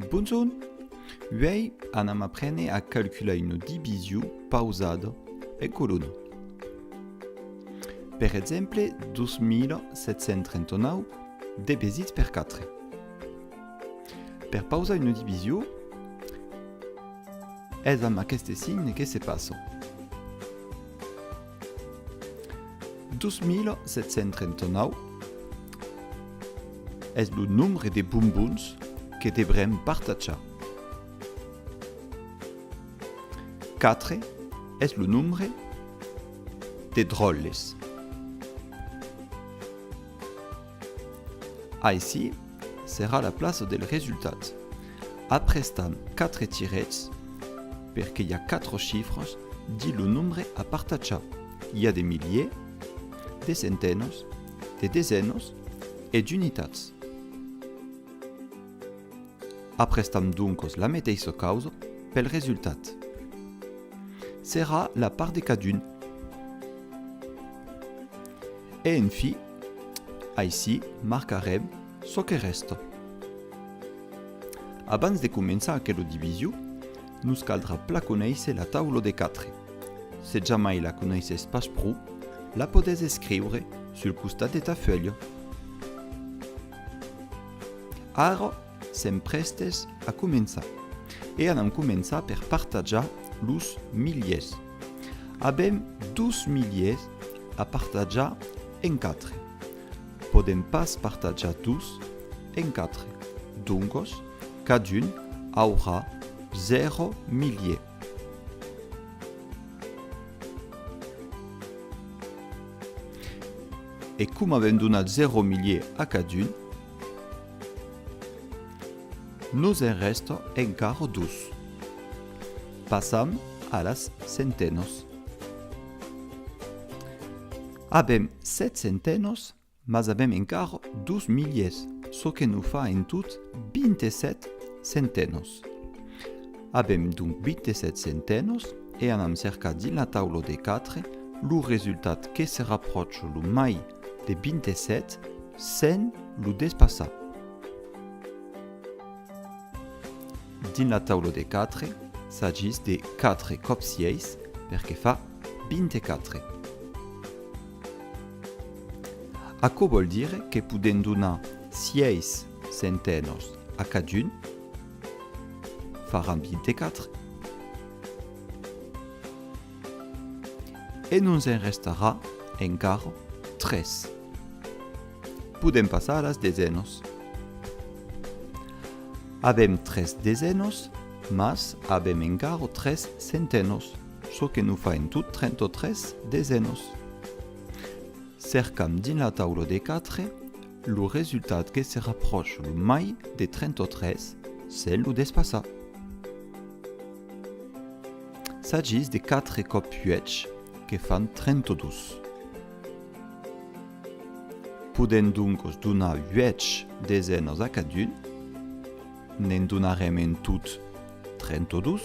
Bonjorn! Uèi anam aprene a calcular una division pausada en colona. Per exemple, 2739 divisit per 4. Per pausar una division, es amb aqueste signe que se passa. 2739 es lo nombre de bombons que devrem partatjar. 4 es lo nombre de dròlles. Aicí serà la plaça del resultat. Aprestam 4 tirets per que i a 4 chifras dins lo nombre a partatjar. I a de miliers, de centenas, de desenas e d'unitats. Aprestam doncas la meteissa causa pel resultat. Serà la part de cadun. E en fi, Aicí marcarem çò que rèsta. Abans de començar aquela division, nos caldrà pla conéisser la taula de 4. Se jamai la conéisses pas pro, la podés escriure sul costat de ta fuèlha. Ara sèm prèstes a començar e anam començar per partajar los miliers. Avèm dos miliers a partajar en quatre. Podèm pas partajar dos en quatre, doncos cadun aurà zèro milier. E coma avèm donat zèro milier a cadun, nos en rèsta encara dos. Passam a las centenòs. Avèm sèt centenòs, mas avèm encara dos miliers, çò que nos fa en tot 27 centenòs. Avèm donc 27 centenòs e anam cercar dins la taula de 4 lo resultat que se rapròcha lo mai de 27 sens lo despassar. Dins la taula de quatre, s'agís de quatre còps sièis, perque fa 24. Aquò vòl dire que podèm donar sièis centenòs a cadun, faràn 24. E nos en restarà encara tres. Podèm passar a las desenas. Avèm tres desenas, mas avèm encara tres centenas, çò que nos fa en tot 33 desenas. Cercam dins la taula de quatre lo resultat que se rapròche lo mai de 33 sens lo despassar. S'agís de 4 còp 8, que fan 32. Podèm doncos donar 8 desenas a cadun, ne'n donarem en tot 32,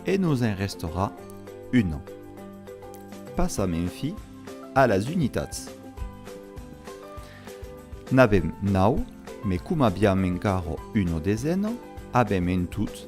e nos en restarà una. Passam enfi a las unitats. N'avèm 9, me coma aviam encara una desena, avèm en tot.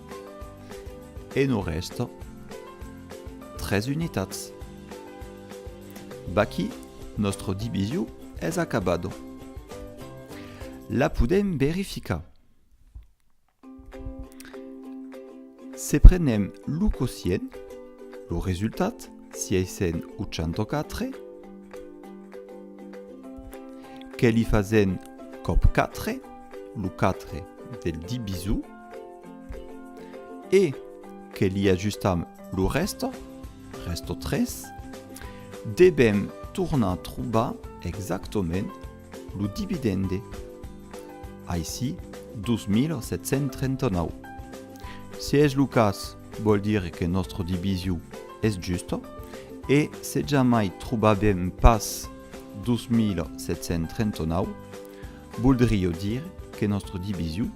E nos rèsta tres unitats. Vaquí, nòstre divisio es acabado. La podèm verificar. Se prenem lo quocient, lo resultat, 684, que li fasèn còp 4, lo 4 del divisor, e que li ajustam lo rèsto, rèsto 3, devèm tornar trobar exactament lo dividende, aicí 2.739. Se es lo cas, vòl dire que nòstre divisio es justa e se jamai trobavèm pas 2.739, voldrió dire que nòstre divisio